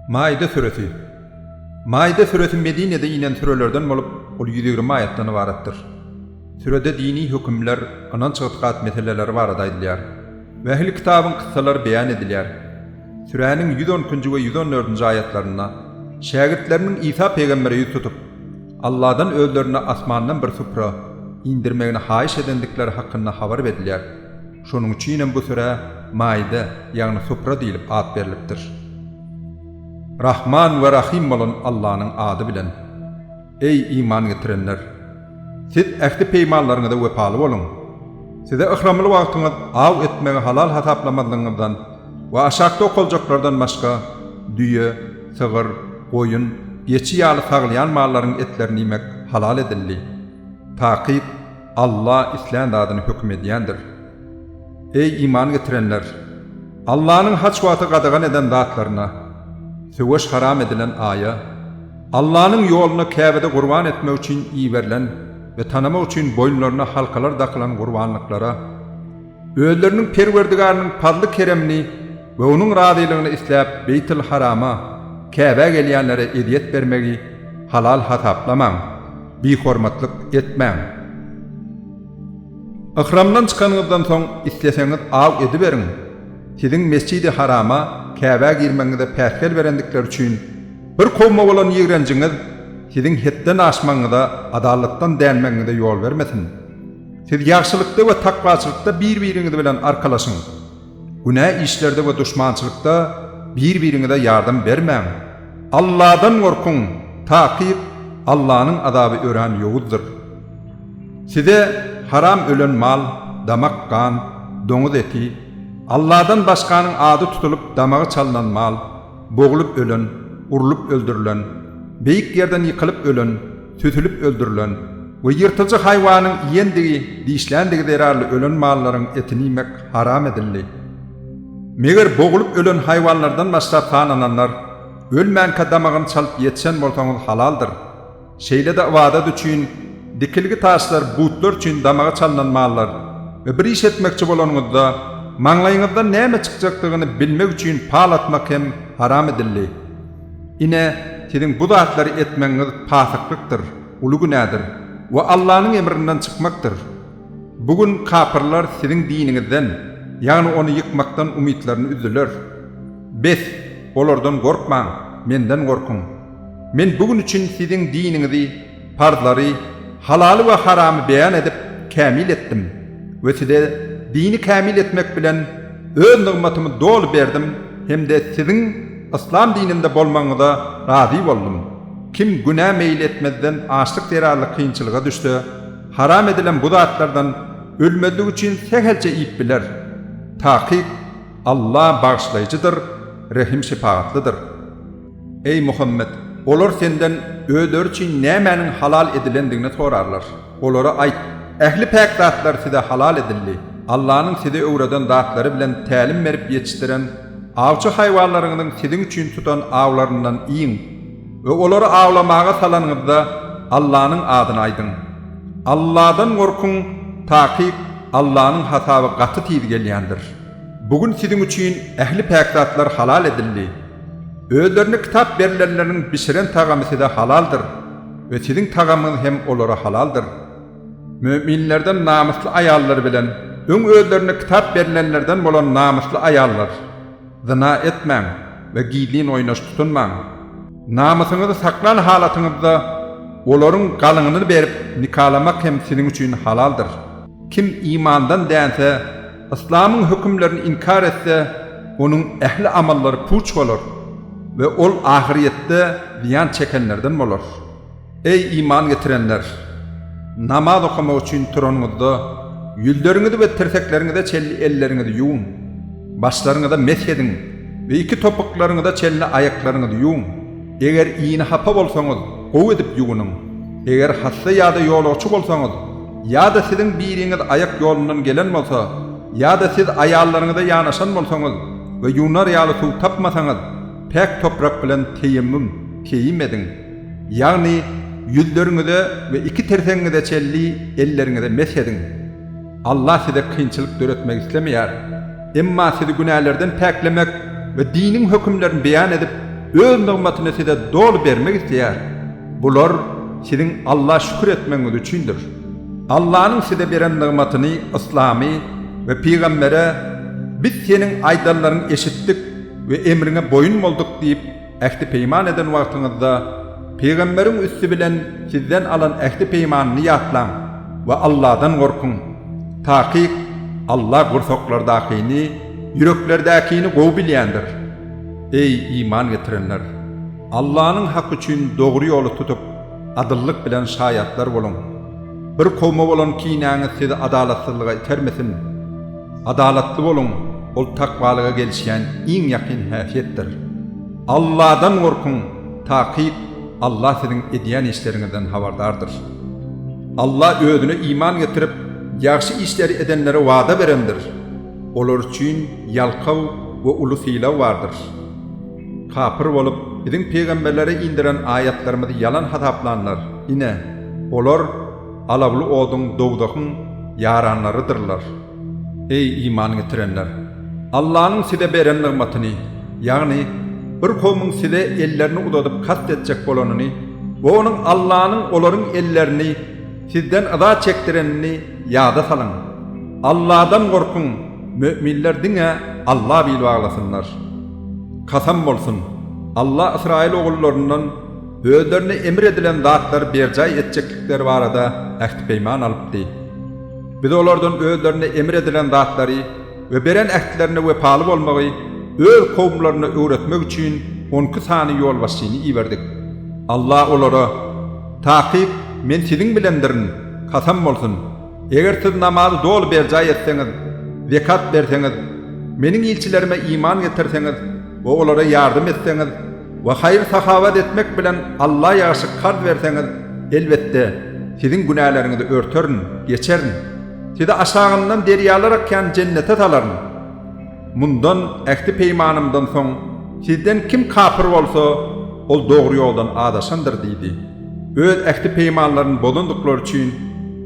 Maide süresi. Maide süresi Medinede inen sürelerden bolup, ol ýüz ýigrimi aýatdan ybaratdyr. Sürede dini hökümler, ynanç-ygtykat meseleleri barada aýdylýar we ähli kitabyň kyssalary beýan edilýär. Süräniň ýüz on ikinji we ýüz on dördünji aýatlarynda şägirtleriniň Isa pygambere ýüz tutup, Alladan özlerine asmandan bir supra indirmegini haýyş edendikleri hakynda habar berilýär. Şonuň üçinem bu sürä Maide, ýagny Supra diýlip at berlipdir. Rahman we Rahym bolan Allanyň ady bilen. Eý, iman getirenler! Siz ähdi-peýmanlaryňyza wepaly boluň! Size yhramly wagtyňyz aw etmegi halal hasaplamazlygyňyzdan we aşakda okaljaklardan başga, düýe, Sygyr, goýun, geçi ýaly saglaýan mallaryň etlerini iýmek halal edildi. Takyk, Alla islän zadyny höküm edýändir. Eý, iman getirenler! Allanyň haç wagty gadagan eden zatlaryna, söweş haram edilen aýa, Allanyň ýolunda Käbede gurban etmek üçin iberilen we tanamak üçin boýunlaryna halkalar dakylan gurbanlyklara, Özleriniň Perwerdigarynyň pazly-keremini we Onuň razylygyny isläp Beýtil-Harama, Käbä gelýänlere ezýet bermegi halal hasaplamaň, bihormatlyk etmäň. Yhramdan çykanyňyzdan soň isleseňiz aw ediberiň, siziň Mesjidi Harama, Käbä girmegiňize päsgel berendikleri üçin bir kowuma bolan ýigrenjiňiz siziň hetden aşmagyňyza, adalatdan dänmegiňize ýol bermesin. Siz ýagşylykda we takwaçylykda bir-biriňiz bilen arkalaşyň. Günä işlerde we duşmançylykda bir-biriňize ýardam bermäň. Allahdan gorkuň, takyk, Allahnyň azaby örän ýowuzdyr. Size haram ölen mal, damak gan, doňuz eti, Allahdan başganyň ady tutulyp damagy çalnan mal, boglup ölen, urlup öldürilen, beýik ýerden ýykylyp ölen, Sütülip öldürilen we ýyrtyjy haýwanyň iýendigi, dişländigi zerarly ölen mallaryň etini iýmek haram edildi. Meger bogulyp ölen haýwanlardan başga tanananlar, ölmänkä damagyny çalyp ýetişen bolsaňyz halaldyr. Şeýle-de ybadat üçin, dikilgi taşlar, butlar üçin damagy çalnan mallar we bir iş etmekçi bolanyňyzda, maňlaýyňyzdan näme çykjakdygyny bilmek üçin pal atmak hem haram edildi. Ine, siziň bu zatlary etmegiňiz pasyklykdyr, uly günädir we Allanyň emrinden çykmakdyr. Bu gün kapyrlar siziň diniňizden, ýagny ony ýykmakdan umytlaryny üzdüler. Bes, olardan gorkmaň, Menden gorkuň. Men bu gün üçin siziň diniňizi, Parzlary, halaly we haramy beýan edip, kämil etdim we size dini kämil etmek bilen Öz nygmatymy doly berdim hem-de siziň Yslam dininde bolmagyňyza razy boldum. Kim günä meýil etmezden açlyk zerarly kynçylyga düşse, haram edilen bu zatlardan ölmezlik üçin sähelçe iýip biler. Takyk, Alla Bagyşlaýjydyr, Rehim-şepagatlydyr. Eý, Muhammet! Olar senden özleri üçin nämäniň halal edilendigini sorarlar. Olara aýt, Ähli päk zatlar size halal edildi. Allanyň size öwreden zatlary bilen tälim berip ýetişdiren awçy haýwanlaryňyzyň siziň üçin tutan awlaryndan iýiň we olary awlamaga salanyňyzda Allanyň adyny aýdyň. Alladan gorkuň, takyk, Allanyň hasaby gaty tiz gelýändir. Bu gün siziň üçin ähli päk zatlar halal edildi. Özlerine kitap berilenleriniň bişiren tagamy size halaldyr we siziň tagamyňyz hem olara halaldyr. Müminlerden namysly aýallary bilen öň özlerine kitap berilenlerden bolan namysly aýallar, zyna etmäň we gizlin oýnaş tutunmaň. Namysyňyzy saklan halatyňyzda olaryň galyňyny berip nikalamak hem siziň üçin halaldyr. Kim imandan dänse, Yslamyň hökümlerini inkär etse, onuň ähli amallary puç bolar we ol ahyrýetde zyýan çekenlerden bolar. Eý, iman getirenler! Namaz okamak üçin turanyňyzda, ýüzleriňizi we tirsekleriňize çenli elleriňizi ýuwuň. Başlaryňyza mesh ediň we iki topuklaryňyza çenli aýaklaryňyzy ýuwuň. Eger yny hapa bolsaňyz, gowy edip ýuwunyň. Eger hassa ýa-da ýolagçy bolsaňyz, Ýa-da siziň biriňiz aýak ýolundan gelen bolsa, ýa-da siz aýallaryňyza ýanaşan bolsaňyz we ýuwnar ýaly suw tapmasaňyz, päk toprak bilen teýemmüm, keýim, ediň, ýagny ýüzleriňize we iki tirsegiňize çenli elleriňize mesh ediň. Allah size kynçylyk döretmek islemeýär. Emma sizi günälerden päklemek we diniň hökümlerini beýan edip, Öz nygmatyny size doly bermek isleýär. Bular siziň Alla şükür etmegiňiz üçindir. Allanyň size beren nygmatyny, yslamy, we pygambere, Biz seniň aýdanlaryňy eşitdik we emriňe boýun bolduk diýip, ähti-peýman eden wagtyňyzda, pygamberiň üsti bilen sizden alan ähti-peýmanyny ýatlaň we Alladan gorkuň. Takyk, Alla gursaklardakyny, ýüreklerdäkini gowy bilýändir. Eý, iman getirenler! Allanyň haky üçin dogry ýoly tutup, adyllyk bilen şaýatlar boluň. Bir kowma bolan kinäňiz sizi adalatsyzlyga itermesin. Adalatly boluň, ol takwalyga gelişýän iň ýakyn häsiýetdir. Alladan gorkuň, takyk, Allah siziň edýän işleriňizden habardardyr. Allah Özüne iman getirip, ýagşy işleri edenlere wada berendir. Olar üçin ýalkaw we uly sylag bardyr. Kapyr bolup, Biziň pygamberlere indiren aýatlarymyzy ýalan hasaplanlar, ine, olar alawly oduň, dowzahyň, ýaranlarydyrlar. Eý, iman getirenler! Allanyň size beren nygmatyny, ýagny bir kowmuň size ellerini uzadyp kast etjek bolanyny we onuň Allanyň olaryň ellerini sizden yza çekdirenini ýada salyň. Alladan gorkuň, möminler diňe Alla bil baglasynlar. Kasam bolsun, Alla ysraýyl ogullaryndan özlerine emr edilen zatlary berjaý etjeklikleri barada ähti-peýman alypdy. Biz olardan özlerine emr edilen zatlary we beren ähtlerine wepaly bolmagy öz kowumlaryna öwretmek üçin on iki sany ýolbaşçyny iberdik. Alla olara, Takyk, Men siziň bilendirin, kasam bolsun! Eger siz namazy doly berjaý etseňiz, zekat berseňiz, Meniň ilçilerime iman getirseňiz we olara ýardam etseňiz we haýyr-sahawat etmek bilen Alla ýagşy karz berseňiz, elbetde, siziň günäleriňizi örterin, geçerin. Sizi aşagyndan derýalar akýan jennete salaryn. Mundan, ähdi-peýmanymdan soň, sizden kim kapyr bolsa, ol dogry ýoldan azaşandyr diýdi. Öz ähdi-peýmanlaryny bozandyklary üçin,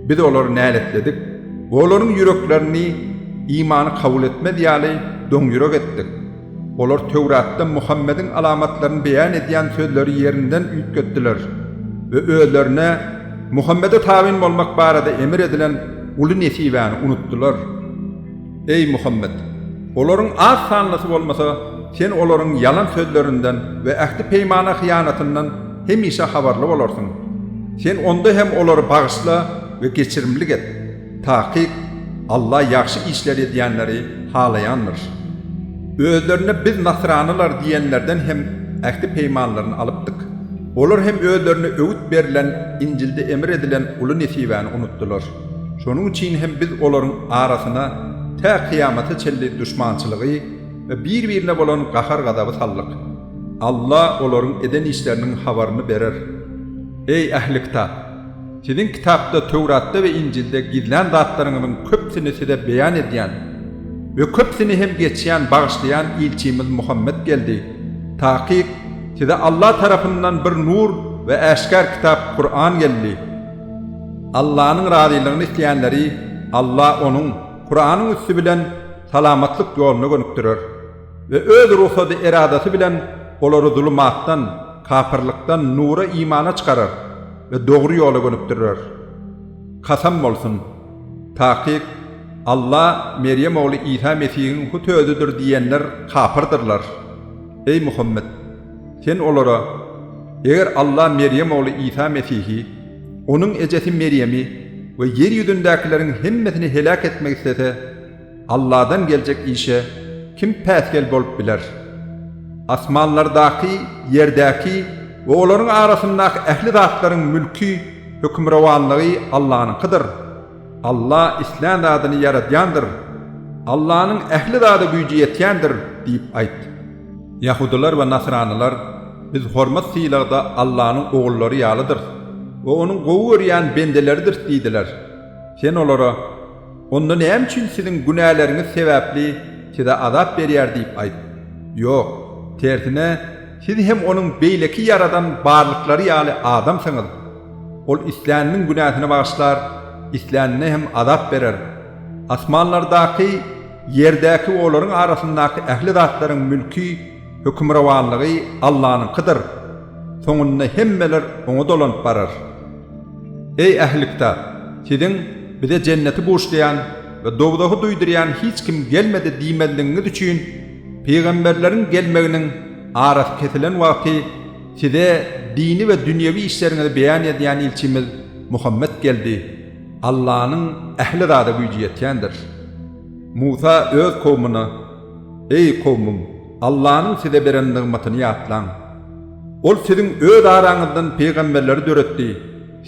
Biz olary näletledik we olaryň ýüreklerini imany kabul etmez ýaly doňýürek etdik. Olar Töwratda Muhammediň alamatlaryny beýan edýän sözleri ýerinden üýtgetdiler we özlerine Muhammede tabyn bolmak barada emr edilen uly nesibäni unutdylar. Eý, Muhammet! Olaryň az sanlysy bolmasa, sen olaryň ýalan sözlerinden we ähdi-peýmana hyýanatyndan hemişe habarly bolarsyň. Sen onda hem olary bagyşla we geçirimlik et. Takyk, Alla ýagşy işler edýänleri halaýandyr. Özlerine Biz nasranylar diýenlerden hem ähdi-peýmanlaryny alypdyk. Olar hem özlerine öwüt berlen, Injilde emr edilen uly nesibäni unutdylar. Şonuň üçin hem biz olaryň arasyna tä kyýamata çenli duşmançylygy we bir-birine bolan gahar-gazaby saldyk. Alla olaryň eden işleriniň habaryny berer. Eý, ähli kitap! Siziň kitapda, Töwratda we Injilde gizlän zatlaryňyzyň köpüsini size beýan edýän we köpüsini hem geçýän, bagyşlaýan ilçimiz Muhammet geldi. Takyk, size Alla tarapyndan bir nur we äşgär kitap, Kuran geldi. Allanyň razylygyny isleýänleri Alla Onuň, Kuranyň üsti bilen, salamatlyk ýoluna gönükdirer we Öz rugsady, eradasy bilen olary zulumatdan, kapyrlykdan, nura, imana çykarar we dogry ýola gönükdirer. Kasam bolsun! Takyk, Alla Merýem ogly Isa Mesihiň hut Özüdir diýýänler kapyrdyrlar. Eý Muhammet! Sen olara, Eger Allah Merýem ogly Isa Mesihi, onuň ejesi Merýemi we ýer ýüzündäkileriň hemmesini heläk etmek islese, Allahdan geljek işe kim päsgel bolup biler? Asmanlardaky, ýerdäki we olaryň arasyndaky ähli zatlaryň mülki, hökümrowanlygy Allahnyňkydyr. Alla islän zadyny ýaradýandyr. Allanyň ähli zada güýji ýetýändir diýip aýt. Ýahudylar we nasranylar, Biz hormat-sylagda Allanyň ogullary ýalydyrys we Onuň gowy görýän bendeleridiris diýdiler. Sen olara, Onda näme üçin siziň günäleriňiz sebäpli size azap berýär diýip aýt. Ýok, tersine, Siz hem onuň beýleki ýaradan barlyklary ýaly adamsyňyz. Ol isläniniň günäsini bagyşlar, islänine hem azap berer. Asmanlardaky, ýerdäki we olaryň arasyndaky ähli zatlaryň mülki, hökümrowanlygy Allanyňkydyr. Soňunda hemmeler Oňa dolanyp barar. Eý ähli kitap! Siziň, Bize jenneti buşlaýan we dowzahy duýdurýan hiç kim gelmedi diýmezligiňiz üçin Pygamberleriň gelmeginiň arasy kesilen wagty size dini we dünýewi işleriňizi beýan edýän ilçimiz Muhammet geldi. Allanyň ähli zada güýji ýetýändir. Musa öz kowmuna, Eý, kowmum, Allanyň size beren nygmatyny ýatlaň. Ol siziň öz araňyzdan pygamberleri döretdi,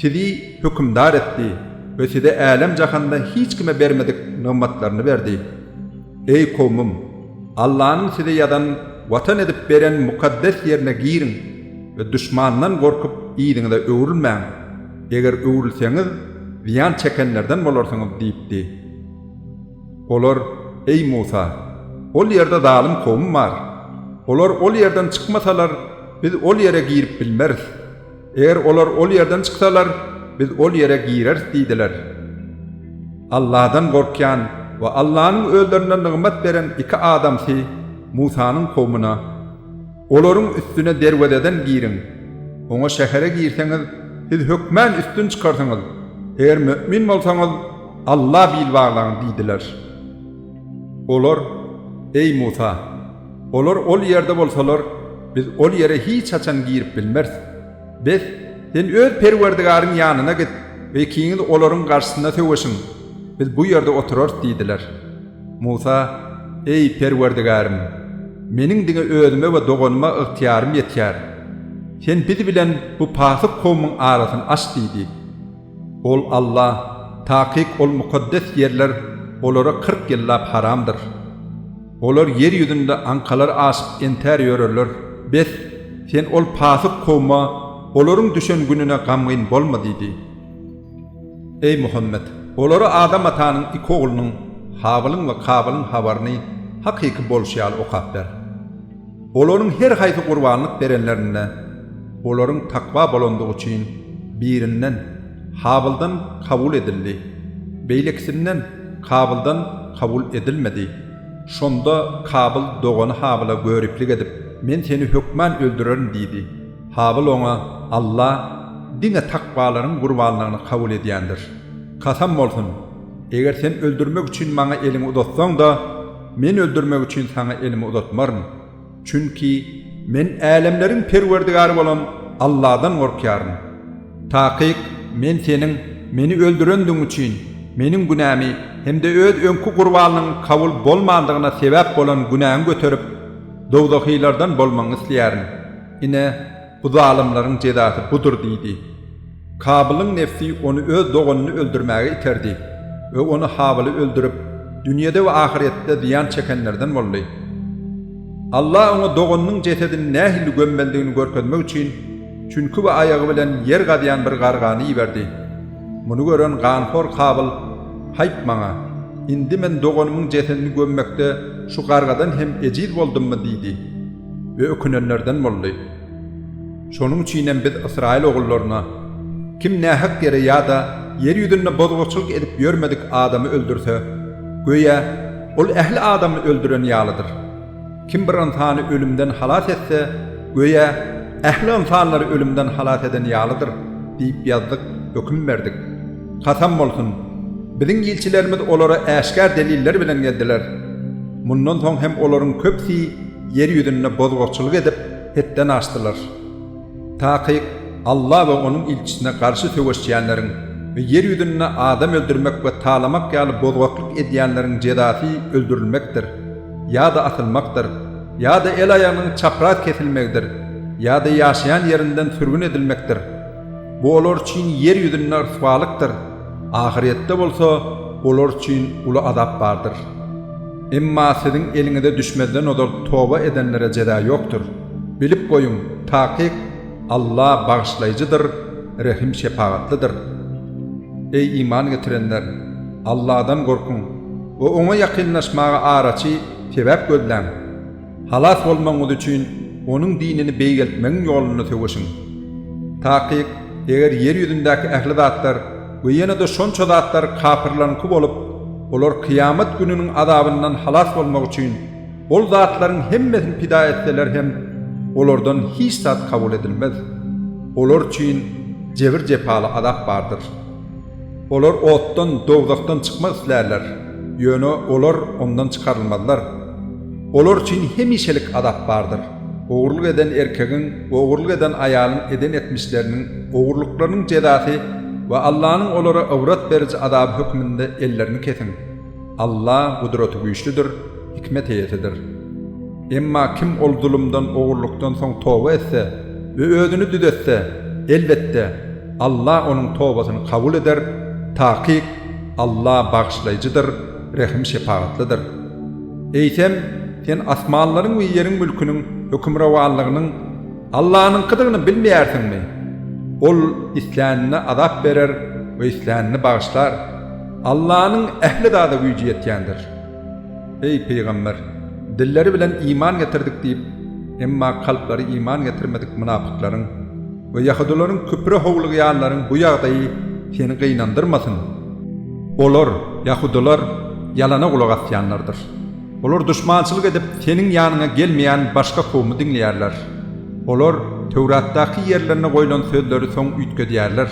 sizi hökümdar etdi we size älem-jahanda hiç kime bermedik nygmatlaryny berdi. Eý kowmym! Allanyň size ýadan watan edip beren mukaddes ýerine giriň we duşmandan gorkup yzyňyza öwrülmäň, eger öwrülseňiz, zyýan çekenlerden bolarsyňyz diýipdi. Olar, Eý Musa! Ol ýerde zalym kowum bar. Olar ol ýerden çykmasalar, biz ol ýere girip bilmeris. Eger olar ol ýerden çyksalar, biz ol ýere gireris diýdiler. Allahdan gorkýan we Allanyň özlerine nygmat beren iki adamsy Musanyň kowmuna, Olaryň üstüne derwezeden giriň. Oňa şähere girseňiz, siz hökmän üstün çykarsyňyz. Eger mömin bolsaňyz, Alla bil baglaň diýdiler. Olar, Eý Musa! Olar ol ýerde bolsalar, biz ol ýere hiç haçan girip bilmeris. Bes, sen öz Perwerdigaryň ýanyna git we ikiňiz olaryň garşysyna söweşiň, biz bu ýerde oturarys diýdiler. Musa, Eý, Perwerdigarym! Meniň diňe özüme we doganyma ygtyýarym ýetýär. Sen biz bilen bu pasyk kowumyň arasyny aç diýdi. Ol Alla, takyk ol mukaddes ýerler olara kyrk ýyllap haramdyr. Olar ýer ýüzünde aňkalar aşyp entär ýörerler. Bes, sen ol pasyk kowma, Olaryň düşen gününe gamgyn bolma diýdi. Eý, Muhammet! Olara Adam atanyň iki oglunyň, Habylyň we Kabylyň habaryny hakyky bolşy ýaly okap ber. Olaryň her haýsy gurbanlyk berenlerinde, olaryň takwa bolandygy üçin, birinden, Habyldan kabul edildi, beýlekisinden, Kabyldan kabul edilmedi. Şonda Kabyl dogany Habyla göriplik edip, Men seni hökman öldürerin diýdi. Habyl oňa, Alla diňe takwalaryň gurbanlygyny kabul edýändir. Kasam bolsun, eger sen öldürmek üçin maňa eliňi uzatsaň-da, Men öldürmek üçin saňa elimi uzatmaryn. Çünki Men älemleriň Perwerdigary bolan Alladan gorkýaryn. Takyk, Men seniň Meni öldürendigiň üçin, Meniň günämi hem-de öz öňki gurbanyň kabul bolmandygyna sebäp bolan günäňi göterip, dowzahylardan bolmagyňy isleýärin. Ine, Bu zalymlaryň jezasy budur diýdi. Kabylyň nebsi ony öz doganyny öldürmäge iterdi we ony Habyly öldürip, dünýede we ahyretde zyýan çekenlerden boldy. Allah oňa doganynyň jesedini nähili gömmeldigini görkezmek üçin çüňki we aýagy bilen ýer gazýan bir gargany iberdi. Muny gören ganhor Kabyl, Haýp maňa! Indi men doganymyň jesedini gömmekde şu gargadan hem ejiz boldummy? diýdi. we ökünenlerden boldy. Şonuň üçin hem biz ysraýyl ogullaryna, Kim nähak ýere ýa-da ýer ýüzünde bozguçylyk edip ýörmedik adamy öldürse, göýä, ol ähli adamy öldüren ýalydyr. Kim bir ynsany ölümden halas etse, göýä, ähli ynsanlary ölümden halas eden ýalydyr diýip ýazdyk, höküm berdik. Kasam bolsun! Biziň ilçilerimiz olara äşgär deliller bilen geldiler. Mundan soň hem olaryň köpüsi ýer ýüzünde bozgakçylyk edip, hetden aşdylar. Takyk Alla we Onuň ilçisine garşy söweşýänleriň we ýer ýüzünde adam öldürmek we talamak ýaly bozgaklyk edýänleriň jezasy öldürilmekdir, ýa-da asylmakdyr, ýa-da el-aýagynyň çapraz kesilmegidir, ýa-da ýaşaýan ýerinden sürgün edilmekdir. Bu olar üçin ýer ýüzünde ryswalykdyr, ahyrýetde bolsa olar üçin uly azap bardyr. Emma siziň eliňize düşmezden ozal toba edenlere jeza ýokdur. Bilip goýuň, takyk, Alla Bagyşlaýjydyr, Rehim-şepagatlydyr. Eý, iman getirenler! Alladan gorkuň we Oňa ýakynlaşmaga araçy, sebäp, gözläň. Halas bolmagyňyz üçin onuň dinini beýgeltmegiň ýolunda söweşiň. Takyk, eger ýer ýüzündäki ähli zatlar we ýene-de şonça zatlar kapyrlaryňky bolup, olar kyýamat gününiň azabyndan halas bolmak üçin ol zatlaryň hemmesini pida etseler hem, olardan hiç zat kabul edilmez. Olar üçin jebir-jepaly azap bardyr. Olar otdan, dowzahdan çykmak islärler, ýöne olar ondan çykarylmazlar. Olar üçin hemişelik azap bardyr. Ogurlyk eden erkegiň we ogurlyk eden aýalyň eden etmişleriniň, ogurlyklarynyň jezasy we Allanyň olara ybrat beriji azaby hökmünde ellerini kesiň. Alla gudratygüýçlidir, hikmet eýesidir. Emma kim ol zulumdan, ogurlykdan soň toba etse we özüni düzetse, elbetde, Alla onuň tobasyny kabul eder, takyk, Alla Bagyşlaýjydyr, Rehim-şepagatlydyr. Eýsem, sen asmanlaryň we ýeriň mülküniň hökümrowanlygynyň Allanyňkydygyny bilmeýärsiňmi? Ol islänine azap berer we islänini bagyşlar. Allanyň ähli zada güýji ýetýändir. Eý, pygamber! Dilleri bilen iman getirdik diýip, emma kalplary iman getirmedik mynapyklaryň we ýahudylaryň küfre howlugýanlaryň bu ýagdaýy seni gynandyrmasyn. Olar, ýahudylar, ýalana gulak asýanlardyr. Olar duşmançylyk edip, seniň ýanyňa gelmeýän başga kowumy diňleýärler. Olar Töwratdaky ýerlerine goýlan sözleri soň üýtgedýärler.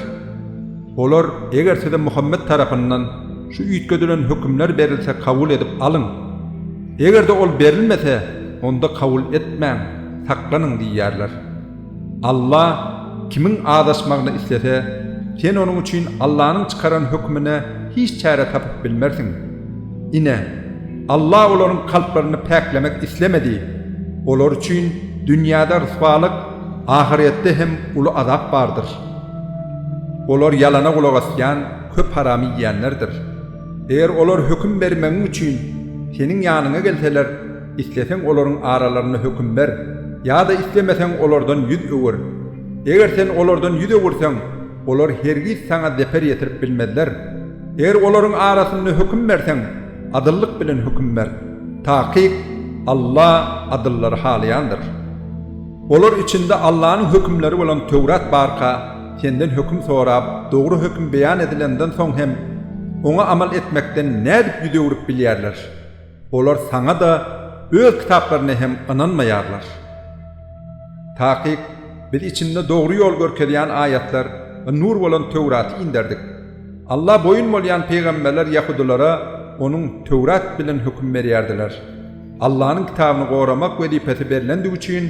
Olar, Eger size Muhammet tarapyndan şu üýtgedilen hökümler berilse kabul edip alyň. Eger-de ol berilmese, onda kabul etmäň, saklanyň diýýärler. Alla Kimiň azaşmagyny islese, sen onuň üçin Allanyň çykaran hökümine hiç çäre tapyp bilmersiň. Ine, Alla olaryň kalplaryny päklemek islemedi. Olar üçin dünýäde ryswalyk, ahyretde hem uly azap bardyr. Olar ýalana gulak asýan köp haramy iýýänlerdir. Eger olar höküm bermegiň üçin seniň ýanyňa gelseler, isleseň olaryň aralarynda höküm ber, ýa-da islemeseň olardan ýüz öwür. Eger sen olardan ýüz öwürseň, olar hergiz saňa zeper ýetirip bilmezler. Eger olaryň arasynda höküm berseň, adyllyk bilen höküm ber. Takyk, Alla adyllary halaýandyr. Olar içinde Allanyň hökümleri bolan Töwrat barka, senden höküm sorap, dogry höküm beýan edilenden soň hem, oňa amal etmekden nädip ýüz öwrüp bilýärler? Olar saňa-da, öz kitaplaryna hem ynanmaýarlar. Takyk, Biz içinde dogry ýol görkezýän aýatlar we nur bolan Töwraty inderdik. Alla boýun bolýan pygamberler ýahudylara onuň, Töwrat, bilen höküm berýärdiler. Allanyň kitabyny goramak wezipesi berlendigi üçin,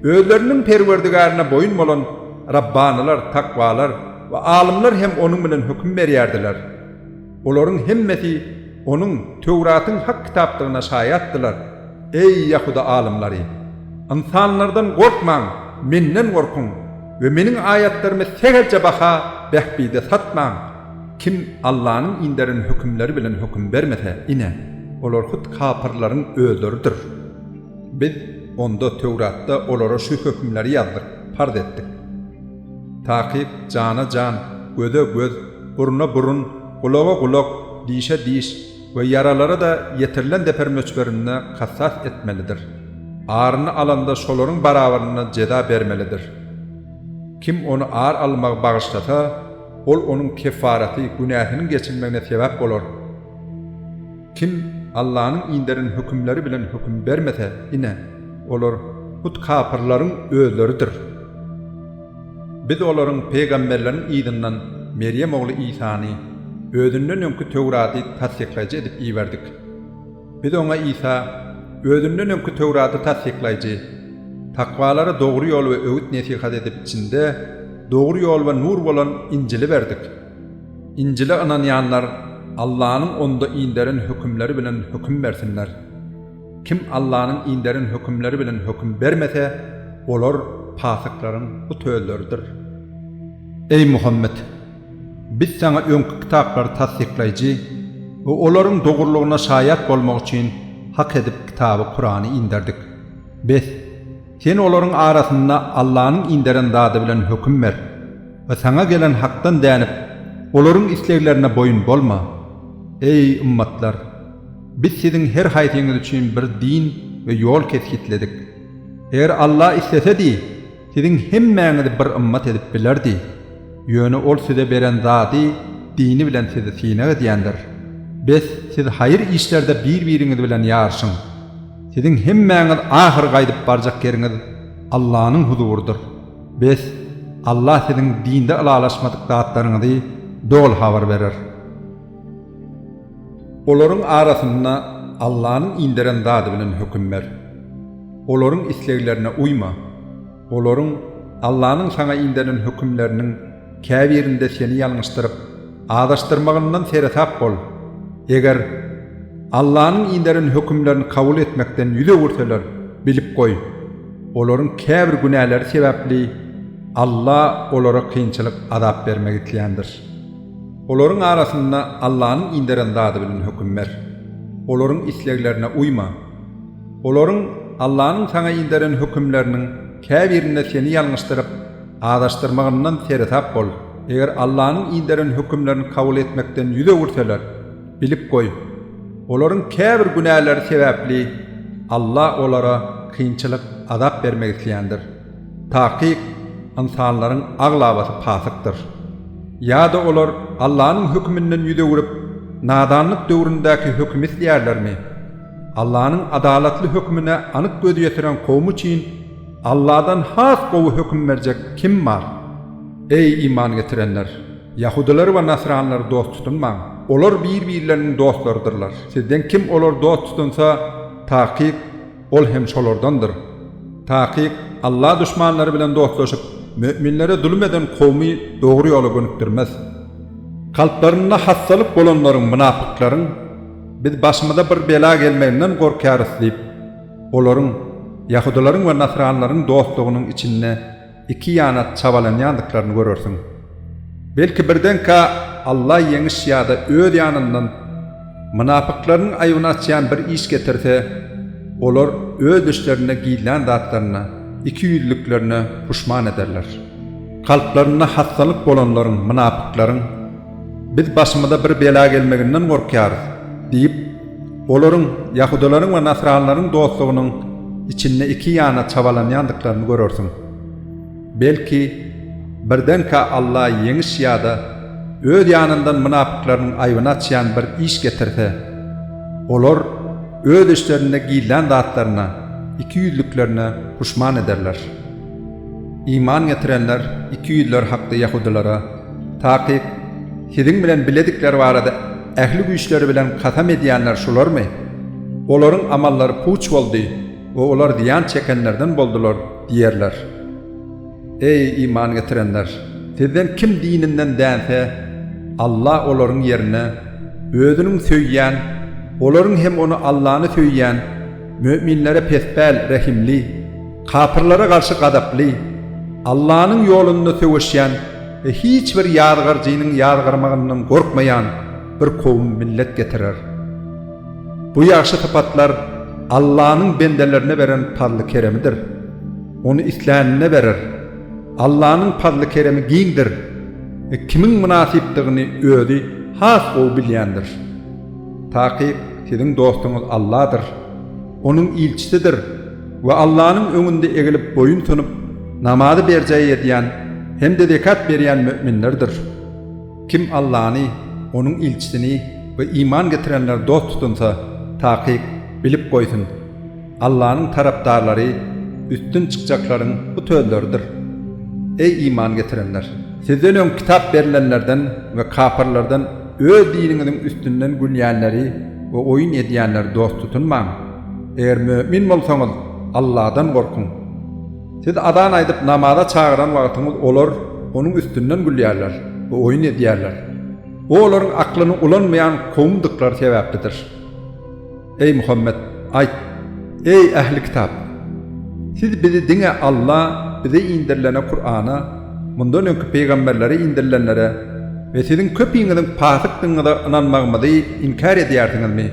özleriniň Perwerdigärine boýun bolan Rabbanylar, takwalar we alymlar hem onuň bilen höküm berýärdiler. Olaryň hemmesi onuň Töwratyň hak kitapdygyna şaýatdylar. Eý, ýahuda alymlary! Ynsanlardan gorkmaň, Menden gorkuň we Meniň aýatlarymy sähelçe baha, bähbide satmaň. Kim Allanyň inderen hökümleri bilen höküm bermese, ine, olar hut kapyrlaryň özleridir. Biz, onda, Töwratda, olara şu hökümleri ýazdyk, parz etdik. Takyk, jana jan, göze göz, burna burun, gulaga gulak, dişe diş we ýaralara-da ýetirilen zeper möçberinde kasas etmelidir. Aryny alanda şolaryň barabaryna jeza bermelidir. Kim ony ar almagy bagyşlasa, Ol onuň keffaraty, günäsiniň geçilmegine sebäp bolar. Kim Allanyň inderen hökümleri bilen höküm bermese, ine, olar hut kapyrlaryň özleridir. Biz olaryň pygamberleriň yzyndan Merýem ogly Isany, özünden öňki Töwraty tassyklaýjy edip iberdik. Biz oňa Isa, özünden öňki Töwrady tassyklaýjy, takwalara dogry ýol we öwüt-nesihat edip içinde dogry ýol we nur bolan Injili berdik. Injile ynanýanlar Allanyň onda inderen hökümleri bilen höküm bersinler. Kim Allanyň inderen hökümleri bilen höküm bermese, olar pasyklaryň bu töllerdir. Eý Muhammet! Biz saňa öňki kitaplary tassyklaýjy we olaryň dogrulygyna şaýat bolmak üçin hak edip kitaby Kurany inderdik. Bes, sen olaryň arasynda Allanyň inderen zady bilen höküm ber we saňa gelen hakdan dänip, olaryň isleglerine boýun bolma. Eý, ymmatlar! Biz siziň her haýsyňyz üçin bir din we ýol kesgitledik. Eger Alla islesedi! Siziň hemmäňizi bir ymmat edip bilerdi. Ýöne ol size beren zady dini bilen sizi synag edýändir. Bes, siz haýyr işlerde bir-biriňiz bilen ýaryşyň. Siziň hemmäňiz ahyry gaýdyp barjak ýeriňiz Allanyň huzurydyr. Bes, Allah siziň dinde ylalaşmadyk zatlaryňyzy doly habar berer. Olaryň arasynda Allanyň inderen zady bilen höküm ber. Olaryň isleglerine uýma. Olaryň, Allanyň saňa inderen hökümleriniň, käbirinde seni ýalňyşdyryp, azaşdyrmagyndan seresap bol. Eger, Allanyň inderen hökümlerini kabul etmekden ýüz öwürseler, bilip goý, olaryň käbir günäleri sebäpli Alla olara kynçylyk, azap bermek isländir. Olaryň arasynda Allanyň inderen zady bilen höküm ber. Olaryň isleglerine uýma. Olaryň, Allanyň saňa inderen hökümleriniň, käbirinde seni ýalňyşdyryp, azaşdyrmagyndan seresap bol. Eger Allanyň inderen hökümlerini kabul etmekden ýüz öwürseler, bilip goý, olaryň käbir günäleri sebäpli Alla olara kynçylyk, azap bermek isleýändir. Takyk, ynsanlaryň aglabasy pasykdyr. Ýa-da olar Allanyň höküminden ýüz öwrüp, nadanlyk döwründäki hökümi isleýärlermi? Allanyň adalatly hökümine anyk göz ýetiren kowum üçin Alladan has gowy höküm berjek kim bar? Eý, iman getirenler! Ýahudylary we nasranlary dost tutunmaň. Olar bir-birleriniň dostlarydyrlar. Sizden kim olary dost tutunsa, takyk, Ol hem şolardandyr. Takyk, Alla duşmanlary bilen dostlaşyp, möminlere zulum eden kowmy dogry ýola gönükdirmez. Kalplarynda hassalyk bolanlaryň, mynapyklaryň, Biz başymyza bir bela gelmeginden gorkýarys diýip, olaryň, ýahudylaryň we nasranlaryň dostlugynyň içinde Iki ýana çabalanýandyklaryny görersiň. Belki birdenkä Alla ýeňiş ýa-da öz ýanyndan mynapyklarynyň aýbyny açýan bir iş getirse, olar öz içlerinde gizlän zatlaryna, ikiýüzlüliklerine puşman ederler. Kalplarynda hassalyk bolanlaryň, mynapyklaryň, Biz başymyza bir bela gelmeginden gorkýarys diýip, Olaryň ýahudalaryň we nasranlaryň dostlugynyň içinde iki ýana çabalanýandyklaryny görersiň. Belki, birdenkä Alla ýeňiş ýa-da Öz ýanyndan mynapyklarynyň aýbyny açýan bir iş getirse, olar öz içlerinde gizlän zatlaryna, ikiýüzlüklerine puşman ederler. Iman getirenler ikiýüzler hakda ýahudalara, Takyk, siziň bilen biledikleri barada, Ähli güýçleri bilen kasam edýänler şularmy? Olaryň amallary puç boldy we olar zyýan çekenlerden boldular diýerler. Eý, iman getirenler! Sizden kim dininden dänse, Alla olaryň ýerine Özüniň söýýän, olaryň hem ony Allany söýýän, Müminlere pespäl, rehimli, kapyrlara garşy gazaply, Allanyň ýolunda söweşýän we hiç bir ýazgaryjynyň ýazgarmagyndan gorkmaýan bir kowum, millet getirer. Bu ýagşy sypatlar Allanyň bendelerine beren pazly-keremidir. Ony islänine berer. Allanyň pazly-keremi giňdir we kimiň mynasypdygyny Özi has gowy bilýändir. Takyk, Siziň dostuňyz Alladyr, Onuň ilçisidir we Allanyň öňünde egilip boýun sunup, namazy berjaý edýän hem-de zekat berýän möminlerdir. Kim Allany, Onuň ilçisini we iman getirenleri dost tutunsa, takyk, bilip goýsun! Allanyň tarapdarlary üstün çykjaklaryň bu sözleridir. Eý iman getirenler! Sizden öň kitap berilenlerden we kapyrlardan öz diniňiziň üstünden gülýänleri we oýun edýänleri dost tutunmaň. Eger mömin bolsaňyz, Alladan gorkuň. Siz azan aýdyp namaza çagyran wagtyňyz olar onuň üstünden gülýärler we oýun edýärler. Bu olaryň aklyny ulanmaýan kowumdyklary sebäplidir. Eý Muhammet, aýt, Eý, ähli kitap! Siz bizi diňe Alla bize indirilene, Kurana, mundan öňki pygamberlere indirilenlere we siziň köpiňiziň pasykdygyňyza ynanmagymyzy inkär edýärsiňizmi?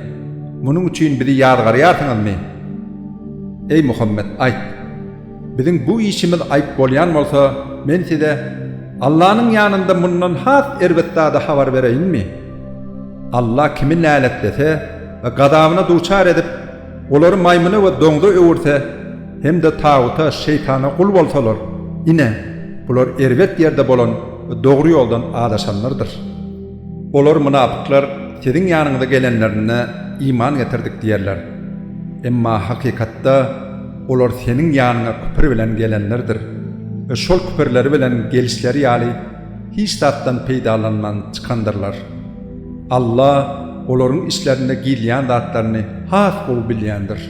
Munuň üçin bizi ýazgarýarsyňyzmy? Eý Muhammet, aýt! Biziň bu işimiz aýp bolýan bolsa, men size Allanyň ýanynda mundan has erbet zady habar bereýinmi? Alla kimi näletlese we gazabyna duçar edip, olary maýmyna we doňza öwürse hem-de taguta, şeýtana, gul bolsalar, ine, bular erbet ýerde bolan we dogry ýoldan azaşanlardyr. Olar, mynapyklar, siziň ýanyňyza gelenlerinde, Iman getirdik diýerler. Emma hakykatda, Olar seniň ýanyňa küpür bilen gelenlerdir we şol küpürleri bilen gelişleri ýaly hiç zatdan peýdalanman çykandyrlar. Alla olaryň içlerinde gizleýän zatlaryny has gowy bilýändir.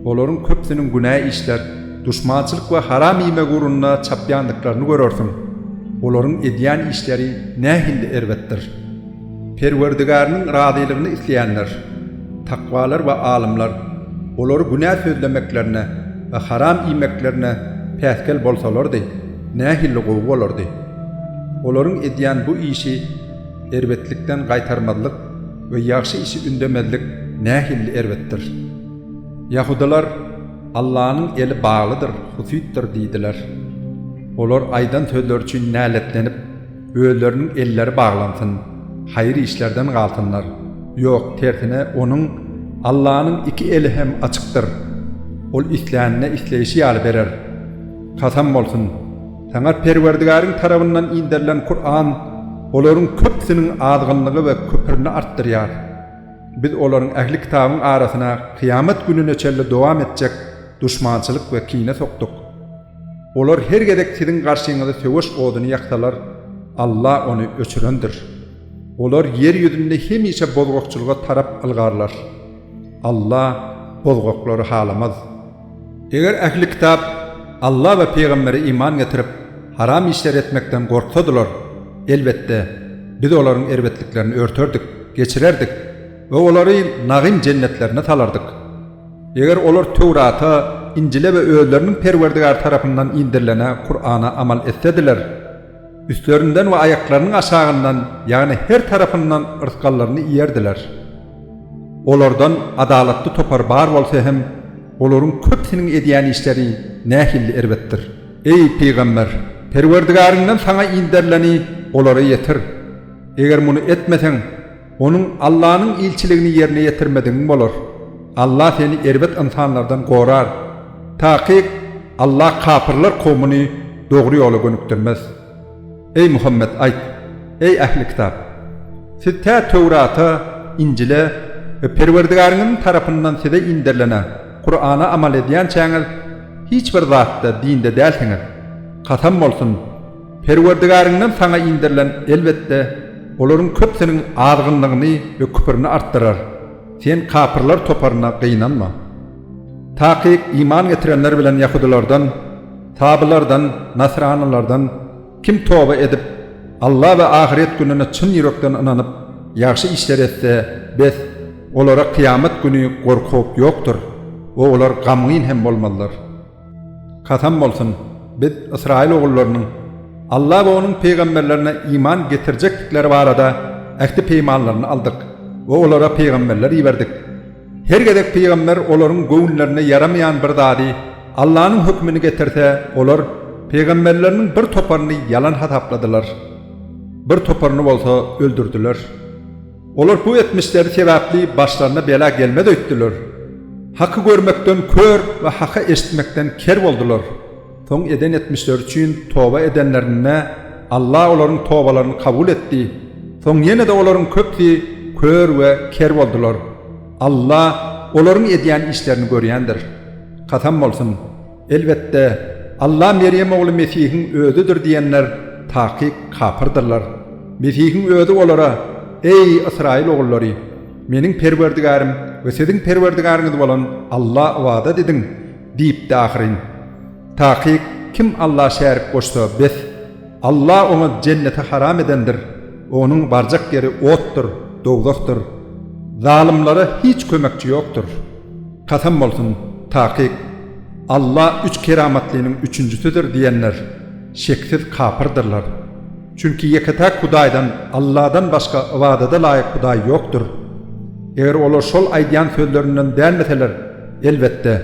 Olaryň köpüsiniň günä işler, duşmançylyk we haram iýmek ugrunda çapýandyklaryny görersiň. Olaryň edýän işleri nähilli erbetdir! Perwerdigäriň razylygyny isleýänler, takwalar we alymlar, olary günä sözlemeklerine we haram iýmeklerine päsgel bolsalardy, nähili gowy bolardy! Olaryň edýän bu işi erbetlikden gaýtarmazlyk we ýagşy işi ündemezlik nähili erbetdir! Ýahudylar, Allanyň eli baglydyr, husytdyr diýdiler. Olar aýdan sözleri üçin näletlenip. Özleriniň elleri baglansyn, haýyr işlerden galsynlar. Ýok, tersine, onuň, Allanyň, iki eli hem açykdyr. Ol islänine isleýşi ýaly berer. Kasam bolsun! Saňa Perwerdigäriň tarabyndan inderilen Kuran olaryň köpüsiniň azgynlygy we küprini artdyrýar. Biz olaryň ähli kitabyň arasyna kyýamat gününe çenli dowam etjek duşmançylyk we kine sokduk. Olar her gezek siziň garşyňyza söweş oduny ýaksalar, Alla ony öçürendir. Olar ýer ýüzünde hemişe bozgakçylyga tarap ylgarlar. Alla bozgaklary halamaz. Eger ähli kitap Alla we pygambere iman getirip, haram işleri etmekden gorksadylar, elbetde, Biz olaryň erbetliklerini örterdik, geçirerdik we olary nagym jennetlerine salardyk. Eger olar Töwrata, Injile we özleriniň Perwerdigary tarapyndan inderilene, Kurana, amal etsediler, üstlerinden we aýaklarynyň aşagyndan, ýagny her tarapyndan rysgallaryny iýerdiler. Olardan adalatly topar bar bolsa hem, olaryň köpüsiniň edýän işleri nähilli erbetdir! Eý, pygamber! Perwerdigaryňdan saňa inderileni olara ýetir. Eger muny etmeseň, Onuň Allanyň ilçiligini ýerine ýetirmedigiň bolar. Allah seni erbet ynsanlardan gorar. Takyk, Allah kapyrlar kowmuny dogry ýola gönükdirmez. Eý, Muhammet, aýt, Eý, ähli kitap! Siz tä Töwrata, Injile we Perwerdigäriňiziň tarapyndan size inderilene, Kurana, amal edýänçäňiz, hiç bir zatda, dinde, dälsiňiz. Kasam bolsun! Perwerdigäriňden saňa indirilen, elbetde, olaryň köpüsiniň azgynlygyny we küprini artdyrar, sen kapyrlar toparyna gynanma. Takyk iman getirenler bilen ýahudylardan, sabylardan, nasranylardan, kim toba edip, Alla we ahyret gününe çyn ýürekden ynanyp, ýagşy işler etse, bes, olara kyýamat güni gorky-howp ýokdur we olar gamgyn hem bolmazlar. Kasam bolsun, biz ysraýyl ogullarynyň Alla we Onuň pygamberlerine iman getirjekdikleri barada ähti-peýmanlaryny aldyk we olara pygamberler iberdik. Her gezek pygamber olaryň göwünlerine ýaramaýan bir zady, Allanyň hökümini getirse, olar pygamberleriniň bir toparyny ýalan hasapladylar. Bir toparyny bolsa öldürdiler. Olar bu etmişleri sebäpli başlaryna bela gelmez öýtdüler. Haky görmekden kör we haky eşitmekden ker boldular. Soň eden etmişleri üçin toba edenlerinde Alla olaryň tobalaryny kabul etdi. Soň ýene-de olaryň köpüsi kör we ker boldular. Alla olaryň edýän işlerini görýändir. Kasam bolsun! Elbetde, Alla Merýem ogly Mesihiň özüdir diýenler takyk kapyrdyrlar. Mesihiň özi olara, Eý, ysraýyl ogullary! Meniň Perwerdigärim we siziň Perwerdigaryňyz bolan Alla ybadat ediň! diýipdi ahyryn. Takyk kim Alla şärik goşsa, bes, Alla oňa Jenneti haram edendir, onuň barjak ýeri otdur, dowzahdyr. Zalymlara hiç kömekçi ýokdur. Kasam bolsun, takyk, Alla üç keramatlynyň üçünjisidir diýenler şeksiz kapyrdyrlar. Çünki ýeke-täk Hudaýdan, Alladan başga ybadada laýyk Hudaý ýokdur. Eger olar şol aýdýan sözlerinden dänmeseler, elbetde,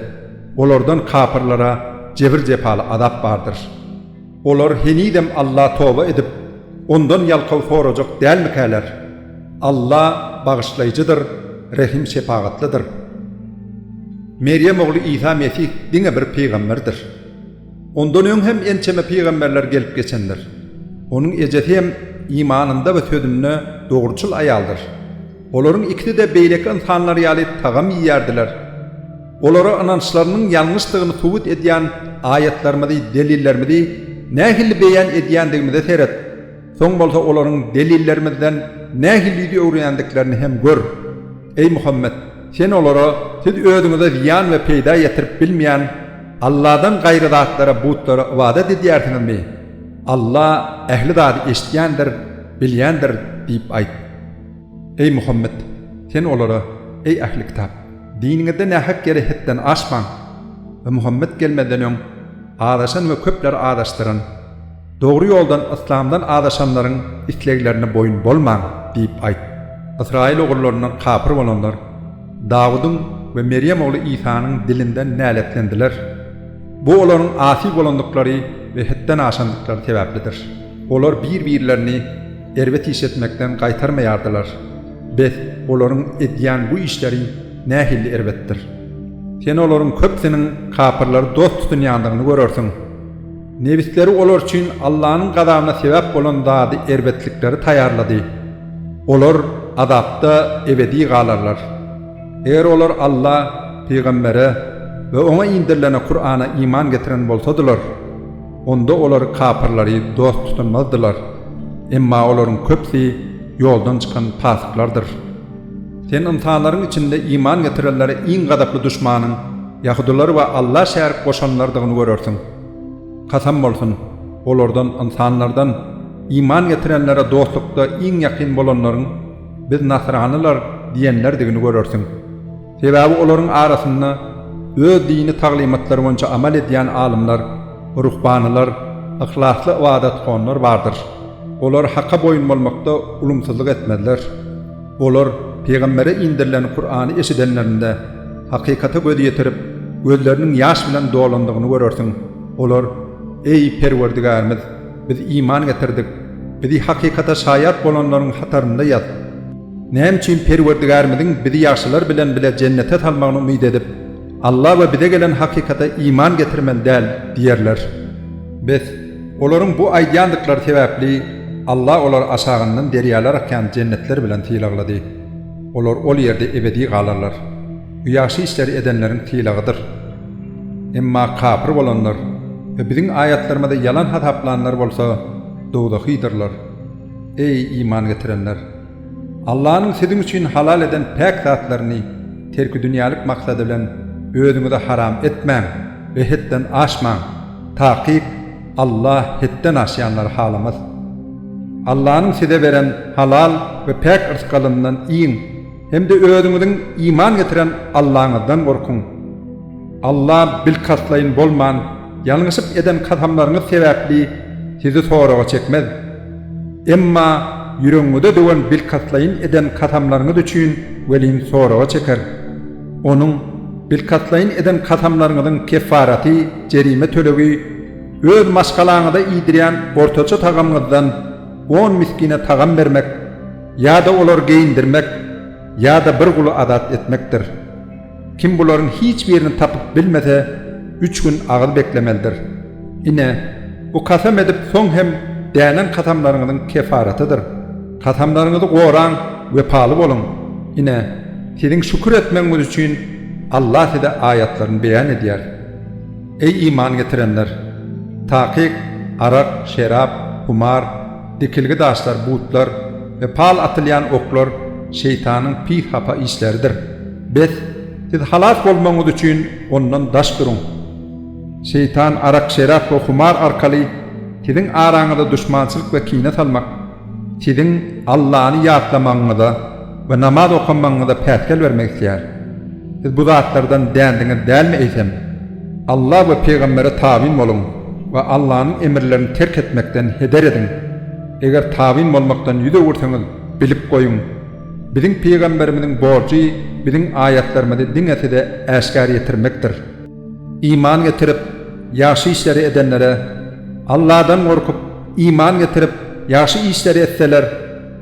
olardan kapyrlara jebir-jepaly azap bardyr. Olar henizem Alla toba edip, Ondan ýalkaw sorajak dälmikäler? Alla Bagyşlaýjydyr, Rehim-şepagatlydyr. Merýem ogly Isa Mesih diňe bir pygamberdir. Ondan öň hem ençeme pygamberler gelip geçendir. Onuň ejesi hem imanynda we sözünde dogruçyl aýaldyr. Olaryň ikisi-de beýleki ynsanlar ýaly tagam iýýärdiler. Olara ynançlarynyň ýalňyşdygyny subut edýän aýatlarymyzy, delillerimizi nähili beýan edýändigimize seret, soň bolsa olaryň delillerimizden nähili ýüz öwürýändiklerini hem gör. Eý Muhammet! Sen olara, Siz özüňize zyýan we peýda ýetirip bilmeýän Alladan gaýry zatlara, butlara, ybadat edýärsiňizmi? Alla ähli zady eşidýändir, bilýändir diýip aýt. Eý Muhammet! Sen olara, Eý ähli kitap! Diniňizde nähak ýere hetden aşmaň we Muhammet gelmezden öň azaşan we köpleri azaşdyran, dogry ýoldan, yslamdan azaşanlaryň isleglerine boýun bolmaň diýip aýt. Ysraýyl ogullaryndan kapyr bolanlar Dawudyň we Merýem ogly Isanyň dilinden näletlendiler. Bu olaryň asy bolandyklary we hetden aşandyklary sebäplidir. Olar bir-birlerini erbet iş etmekden gaýtarmaýardylar. Beh, olaryň edýän bu işleri nähili erbetdir! Sen olaryň köpüsiniň kapyrlary dost tutunýandygyny görersiň. Nebisleri olar üçin Allanyň gazabyna sebäp bolan zady erbetlikleri taýýarlady. Olar azapda ebedi galarlar. Eger olar Alla, pygambere we oňa indirilene, Kur'ana, iman getiren bolsadylar, Onda olar kapyrlary dost tutunmazdylar, emma olaryň köpüsi ýoldan çykan pasyklardyr. Sen ynsanlaryň içinde iman getirenlere iň gazaply duşmanyň ýahudylary we Alla şärik goşanlardygyny görersiň. Kasam bolsun, olardan, ynsanlardan, iman getirenlere dostlukda iň ýakyn bolanlaryň, Biz nasranylar diýenlerdigini görersiň. Sebäbi olaryň arasynda öz dini taglymatlary boýunça amal edýän alymlar, ruhbanylar, yhlasly ybadathanlar bardyr. Olar Haka boýun bolmakda ulumsyzlyk etmezler. Olar pygambere indirilen Kurany eşidenlerinde, hakykata göz ýetirip, gözleriniň ýaş bilen dolandygyny görersiň. Olar, Eý, Perwerdigärimiz! Biz iman getirdik. Bizi hakykata şaýat bolanlaryň hatarynda ýaz! Näme üçin Perwerdigärimiziň bizi ýagşylar bilen bile jennete salmagyny umyt edip, Alla we bize gelen hakykata iman getirmeli däl diýerler? Bes, olaryň bu aýdýandyklary sebäpli Alla olary aşagyndan derýalar akýan jennetler bilen sylaglady. Olar ol ýerde ebedi galarlar. Bu ýagşy işleri edenleriň sylagydyr. Emma kapyr bolanlar we biziň aýatlarymyzy ýalan hasaplanlar bolsa dowzahydyrlar. Eý, iman getirenler! Allanyň siziň üçin halal eden päk zatlaryny terki dünýälik maksady bilen özüňize haram etmäň we hetden aşmaň, takyk Allah hetden aşýanlary halamas. Allanyň size beren halal we päk yrsgalyndan iýiň. Hem-de özüňiziň iman getiren Allaňyzdan gorkuň. Alla bilkastlaýyn bolman, ýalňyşyp eden kasamlaryňyz sebäpli sizi soraga çekmez. Emma ýüregiňize döwen bilkastlaýyn eden kasamlaryňyz üçin welin soraga çeker. Onuň, bilkastlaýyn eden kasamlaryňyzyň keffaraty, jerime tölegi, öz maşgalaňyza iýdirýän ortaça tagamyňyzdan on miskine tagam bermek, Ýa-da olary geýindirmek, ýa-da bir guly azat etmekdir. Kim bularyň hiç birini tapyp bilmese, üç gün agyz beklemelidir. Ine, bu kasam edip soň hem dänen kasamlaryňyzyň kefaratydyr. Kasamlaryňyzy goraň, wepaly boluň. Ine, siziň şükür etmegiňiz üçin Allah size aýatlaryny beýan edýär. Eý iman getirenler! Takyk, arak, şerap, humar, Dikilgi daşlar, butlar we pal atylýan oklar Şeýtanyň pis hapa işleridir. Bes, siz halas bolmagyňyz üçin ondan daş duruň. Şeýtan arak-şerap we humar arkaly siziň araňyza duşmançylyk we kine salmak, siziň Allany ýatlamagyňyza, we namaz okamagyňyza päsgel bermek isleýär. Siz bu zatlardan dändiňiz dälmi eýsem? Alla we pygambere tabyn boluň we Allanyň emirlerini terk etmekden heder ediň. Eger tabyn bolmakdan ýüz öwürseňiz, bilip goýuň, biziň pygamberimiziň borjy biziň aýatlarymyzy diňe size äşgär ýetirmekdir. Iman getirip, ýagşy işleri edenlere, Alladan gorkup, iman getirip, ýagşy işleri etseler,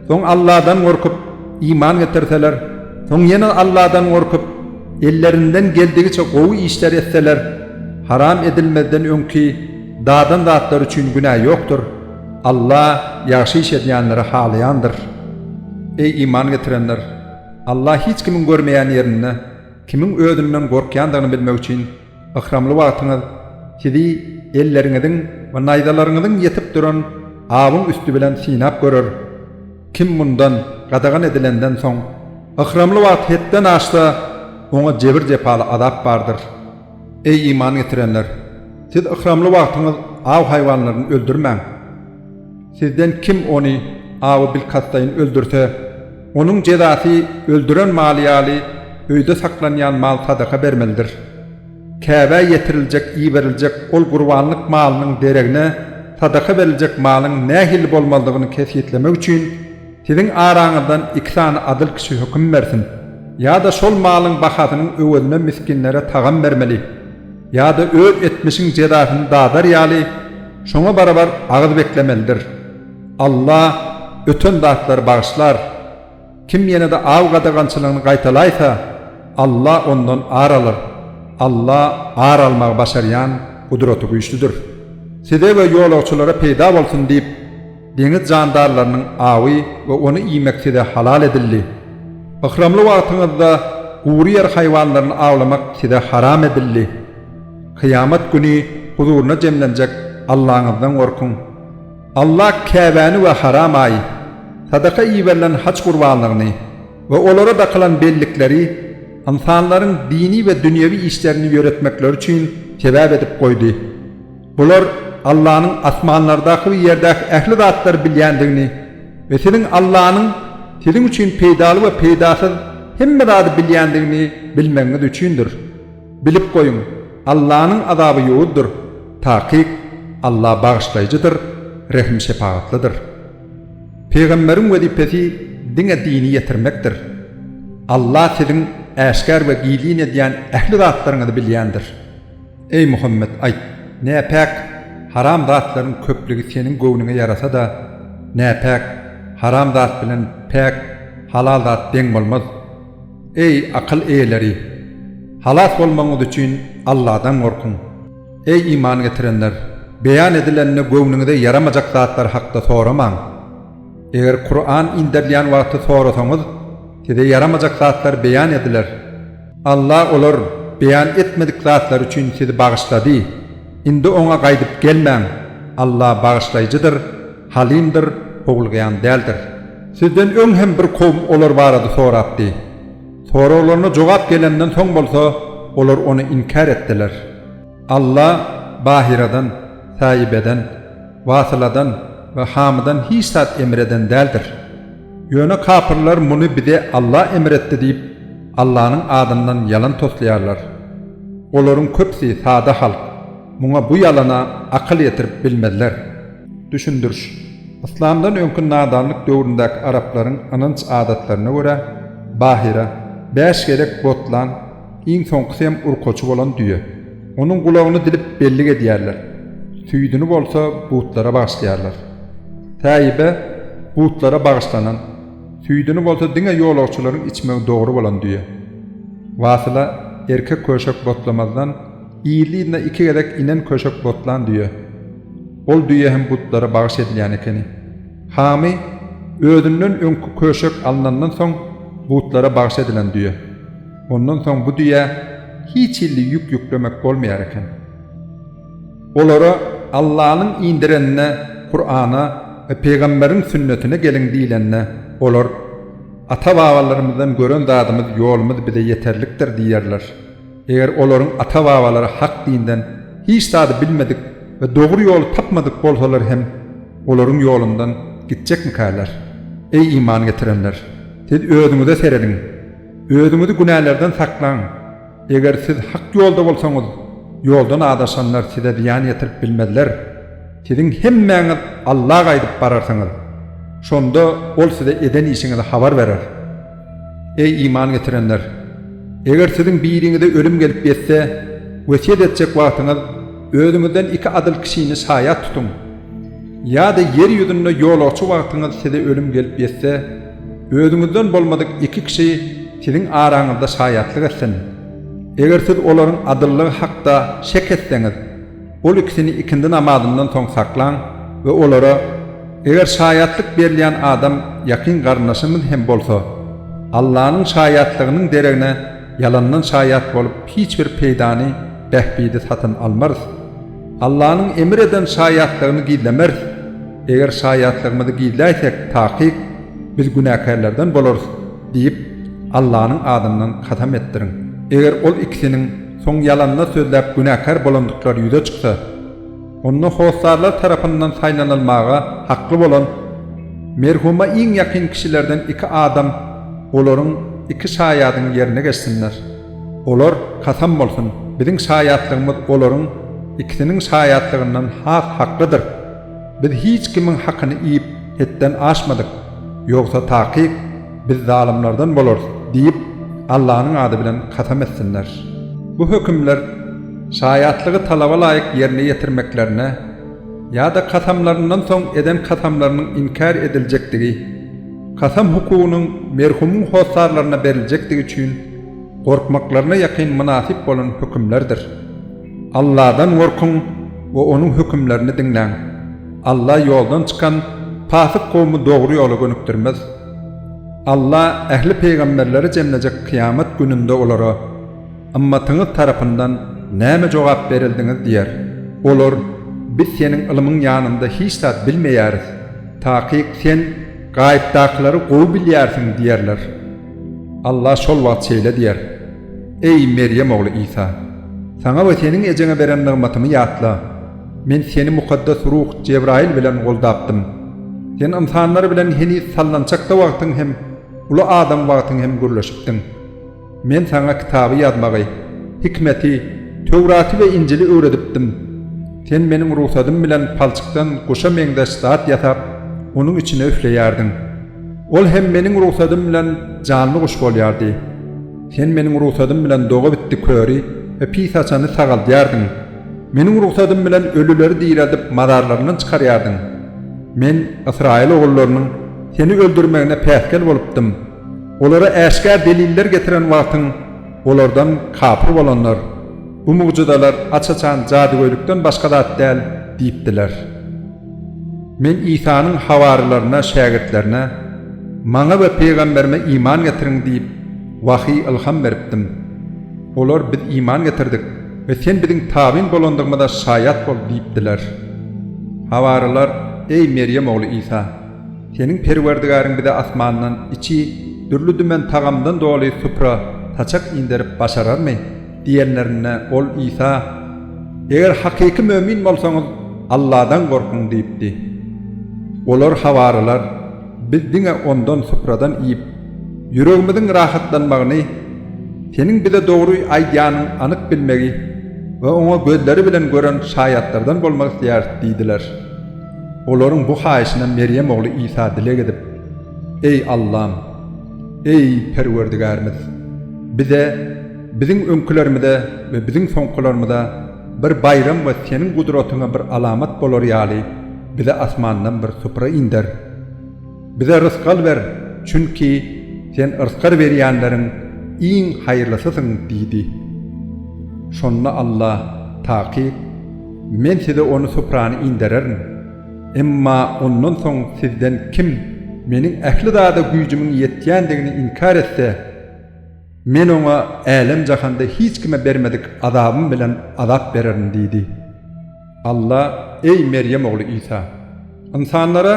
Soň Alladan gorkup, iman getirseler, soň ýene Alladan gorkup, ellerinden geldigiçe gowy işler etseler, haram edilmezden öňki dadan zatlary üçin günä ýokdur. Alla ýagşy iş edýänleri halaýandyr. Eý, iman getirenler! Alla hiç kimiň görmeýän ýerinde, kimiň özünden gorkýandygyny bilmek üçin, Ykramly wagtyňyz sizi elleriňiziň we naýzalaryňyzyň ýetip duran awyň üsti bilen synap görer. Kim mundan gadagan edilenden soň, ykramly wagty hetden aşsa, oňa jebir-jepaly azap bardyr. Eý, iman getirenler! Siz ykramly wagtyňyz aw haýwanlaryny öldürmäň. Sizden kim ony awy bilkastlaýyn öldürse, onuň jezasy öldüren maly ýaly öýde saklanýan mal sadaka bermelidir. Käbä ýetiriljek, iberiljek, ol gurbanlyk malynyň deregine sadaka beriljek malyň nähili bolmalydygyny kesgitlemek üçin, siziň araňyzdan iki sany adyl kişi höküm bersin. Ýa-da şol malyň bahasynyň öwezine misginlere tagam bermeli. Ýa-da öz etmişiň jezasyny dadar ýaly, şoňa barabar agyz beklemelidir. Alla öten zatlary bagyşlar. Kim ýene-de aw gadagançylygyny gaýtalaýsa, Alla ondan ar alar. Alla ar almagy başarýan, gudraty güýçlüdir. Size we ýolagçylara peýda bolsun diýip, Deňiz jandarlarynyň awy we ony iýmek size halal edildi. Yhramly wagtyňyzda gury ýer haýwanlaryny awlamak size haram edildi. Kyýamat güni huzuryna jemlenjek Allaňyzdan gorkuň. Alla Käbäni we haram aýy, sadaka iberilen haj gurbanlygyny we olara dakylan bellikleri ynsanlaryň dini we dünýewi işlerini ýöretmekleri üçin sebäp edip goýdy. Bular Allanyň asmanlardaky we ýerdäki ähli zatlary bilýändigini we siziň Allanyň siziň üçin peýdaly we peýdasyz hemme zady bilýändigini bilmegiňiz üçindir. Bilip goýuň, Allanyň azaby ýowuzdyr. Takyk, Alla Bagyşlaýjydyr, Rehim-şepagatlydyr. Pygamberiň wezipesi diňe dini ýetirmekdir. Alla siziň äşgär we gizlin edýän ähli zatlaryňyzy bilýändir. Eý Muhammet, aýt, näpäk, haram zatlaryň köplügi seniň göwnüňe ýarasa-da, näpäk, haram zat bilen päk, halal zat deň bolmaz. Eý, akyl eýeleri! Halas bolmagyňyz üçin Alladan gorkuň. Eý, iman getirenler! Beýan edilende göwnüňize ýaramajak zatlar hakda soramaň. Eger Kuran inderilýän wagty sorasaňyz, size ýaramajak zatlar beýan ediler. Alla olar beýan etmedik zatlary üçin sizi bagyşlady. Indi Oňa gaýdyp gelmäň. Alla Bagyşlaýjydyr, Halymdyr, Howlugýan däldir. Sizden öň hem bir kowum olar barada sorapdy. Soraglaryna jogap gelenden soň bolsa, olar ony inkär etdiler. Alla Bahyradan, Säibeden, Wasyladan we Hamydan hiç zat emr eden däldir. Ýöne kapyrlar muny bize Alla emr etdi diýip, Allanyň adyndan ýalan toslaýarlar. Olaryň köpüsi sada halk, muňa bu ýalana akyl ýetirip bilmezler. Düşündiriş. Yslamdan öňki nadanlyk döwründäki araplaryň ynanç-adatlaryna görä, Bahyra, bäş gezek botlan, Iň soňkusy hem urkaçy bolan düýe. Onuň gulagyny dilip bellik edýärler. Süýdüni bolsa butlara bagyşlaýarlar. Sähibe butlara bagyşlanan, süýdüni bolsa diňe ýolagçylaryň içmegi dogry bolan düýe. Wasyla erkek köşek botlamazdan yzly-yzyna iki gezek inen köşek botlan düýe. Ol düýe hem butlara bagyş edilýän ekeni. Hamy özünden öňki köşek alnandan soň butlara bagyş edilen düýe. Ondan soň bu düýä hiç hilli ýük ýüklemek bolmaýar eken. Olara Allanyň indirenine, Kurana we pygamberiň sünnetine geliň diýlende, olar, Ata-babalarymyzdan gören zadymyz, ýolumyz bize ýeterlikdir diýerler. Eger olaryň ata-babalary hak dinden hiç zady bilmedik we dogry ýoly tapmadyk bolsalar hem, olaryň ýolundan gitjekmikäler? Eý iman getirenler! Siz özüňize serediň! Özüňizi günälerden saklaň. Eger siz hak ýolda bolsaňyz, ýoldan azaşanlar size zyýan ýetirip bilmezler. Siziň hemmäňiz Alla gaýdyp bararsyňyz. Şonda Ol size eden işiňizi habar berer. Eý, iman getirenler! Eger siziň biriňize ölüm gelip ýetse, wesýet etjek wagtyňyz, özüňizden iki adyl kişini şaýat tutuň. Ýa-da ýer ýüzünde ýolagçy wagtyňyz size ölüm gelip ýetse, Özüňizden bolmadyk iki kişi siziň araňyzda şaýatlyk etsin. Eger siz olaryň adyllygy hakda şek etseňiz, ol ikisini ikindi namazyndan soň saklaň we olara, Eger şaýatlyk berilýän adam ýakyn garyndaşymyz hem bolsa, Allanyň şaýatlygynyň deregine ýalandan şaýat bolup hiç bir peýdany, bähbidi satyn almarys. Allanyň emr eden şaýatlygyny gizlemeris. Eger şaýatlygymyzy gizläýsek, takyk, biz günäkärlerden bolarys diýip, Allanyň adyndan kasam etdiriň. Eger ol ikisiniň soň ýalanda sözläp günäkär bolandyklary ýüze çyksa, onda hossarlar tarapyndan saýlanylmaga hakly bolan, merhuma iň ýakyn kişilerden iki adam olaryň iki şaýadyň ýerine geçsinler. Olar, Kasam bolsun, biziň şaýatlygymyz olaryň ikisiniň şaýatlygyndan has haklydyr. Biz hiç kimiň hakyny iýip, hetden aşmadyk. Ýogsa takyk, biz zalymlardan bolarys diýip, Allanyň ady bilen kasam etsinler. Bu hökümler şaýatlygy talaba laýyk ýerine ýetirmeklerine ýa-da kasamlaryndan soň eden kasamlarynyň inkär ediljekdigi, kasam hukugynyň merhumyň hossarlaryna beriljekdigi üçin gorkmaklaryna ýakyn mynasyp bolan hökümlerdir. Alladan gorkuň we Onuň hökümlerini diňläň. Alla ýoldan çykan, pasyk kowumy dogry ýola gönükdirmez. Alla ähli pygamberleri jemlejek kyýamat gününde olara, Ymmatyňyz tarapyndan nämä jogap berildiňiz? diýer. Olar, Biz Seniň ylmyň ýanynda hiç zat bilmeýäris. Takyk Sen gaýypdakylary gowy bilýärsiň diýerler. Allah şol wagt şeýle diýer, Eý, Merýem ogly Isa! Saňa we seniň ejeňe beren nygmatymy ýatla. Men seni mukaddes ruh Jebraýyl bilen goldapdym. Sen ynsanlar bilen heniz sallançakda wagtyň hem uly adam wagtyň hem gürleşipdiň. Men saňa kitaby ýazmagy, hikmeti, Töwraty we Injili öwredipdim. Sen Meniň rugsadym bilen palçykdan guşa meňzeş zat ýasap, onuň içine üfleýärdiň. Ol hem meniň rugsadym bilen janly guş bolýardy. Sen meniň rugsadym bilen doga bitdi köri we pis haçany sagaldýardyň. Meniň rugsadym bilen ölüleri direldip mazarlaryndan çykarýardyň. Men ysraýyl ogullarynyň seni öldürmegine päsgel bolupdym. Olara äşgär deliller getiren wagtyň, olardan kapyr bolanlar, Bu mugjyzalar aç-açan jadygöýlikden başga zat däl diýipdiler. Men Isanyň habarlylaryna, şägirtlerine, Maňa we pygamberime iman getiriň diýip, wahyý ylham beripdim. Olar, Biz iman getirdik we sen biziň tabyn bolandygymyza şaýat bol diýipdiler. Habarlylar, Eý, Merýem ogly Isa! Seniň Perwerdigäriň bize asmandan içi dürli-dümen tagamdan doly supra, saçak inderip başararmy? Diýenlerinde, ol Isa, Eger hakyky mömin bolsaňyz, Alladan gorkuň diýipdi. Olar, hawarylar, biz diňe ondan, supradan, iýip, ýüregimiziň rahatlanmagyny, Seniň bize dogry aýdýanyň anyk bilmegi we oňa gözleri bilen gören şaýatlardan bolmak isleýäris diýdiler. Olaryň bu haýyşyna Merýem ogly Isa dileg edip, Eý, Allam! Eý, Perwerdigärimiz! Bize, Biziň öňkülerimize we biziň soňkularymyza bir baýram we Seniň gudratyňa bir alamat bolar ýaly, bize asmandan bir supra inder. Bize rysgal ber, çünki Sen yrskar berýänleriň iň haýyrlysysyň diýdi. Şonda Alla, Takyk, Men size ony suprany indererin. Emma ondan soň sizden kim Meniň ähli zada güýjümiň ýetýändigini inkär etse, Men oňa älem-jahanda hiç kime bermedik azabym bilen azap bererin diýdi. Alla, Eý, Merýem ogly Isa! Ynsanlara,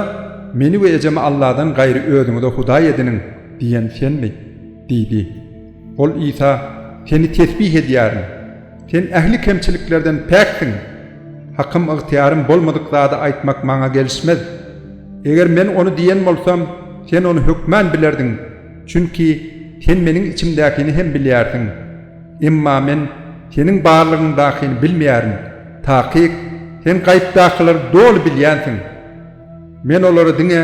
Meni we ejemi Alladan gaýry özüňize hudaý ediniň diýen senmi? diýdi. Ol Isa, Seni tesbih edýärin. Sen ähli kemçiliklerden päksiň. Hakym ygtyýarym bolmadyk zady aýtmak maňa gelişmez. Eger men ony diýen bolsam, sen ony hökman bilerdiň Çünki Sen meniň içimdäkini hem bilýärsiň. Emma men Seniň barlygyňdakyny bilmeýärin. Takyk, Sen gaýypdakylary doly bilýänsiň. Men olara diňe,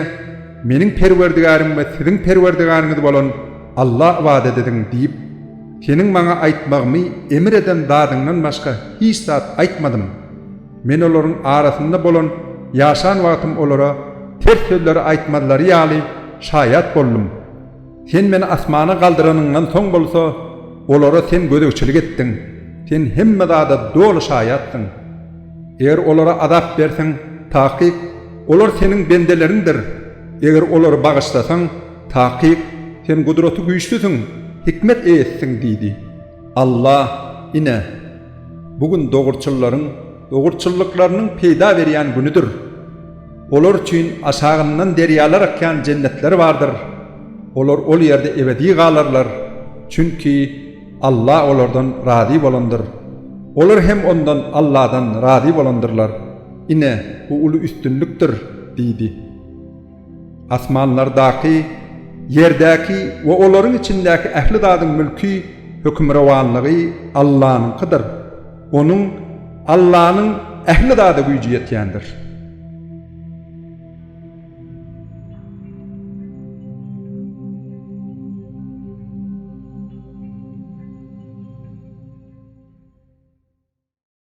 Meniň Perwerdigärim we siziň Perwerdigäriňiz bolan Alla ybadat ediň diýip, Seniň maňa aýtmagymy emr eden zadyňdan başga hiç zat aýtmadym. Men olaryň arasynda bolan ýaşan wagtym olara ters sözleri aýtmazlary ýaly şaýat boldum. Sen meni asmana galdyranyňdan soň bolsa, olara Sen gözegçilik etdiň, Sen hemme zada doly şaýatdyň. Eger olara azap berseň, takyk, olar Seniň bendeleriňdir, eger olary bagyşlasaň, takyk, Sen Gudraty-Güýçlüsiň, hikmet eýesiň diýdi. Alla, ine, bu gün dogruçyllaryň dogruçyllyklarynyň peýda berýän günüdir. Olar üçin aşagyndan derýalar akýan jennetler bardyr. Olar ol ýerde ebedi galarlar, çünki Alla olardan razy bolandyr. Olar hem ondan, Alladan, razy bolandyrlar. Ine, bu uly üstünlikdir! diýdi. Asmanlardaky, ýerdäki we olaryň içindäki ähli zadyň mülki, hökümrowanlygy Allanyňkydyr. Onuň, Allanyň, ähli zada güýji ýetýändir.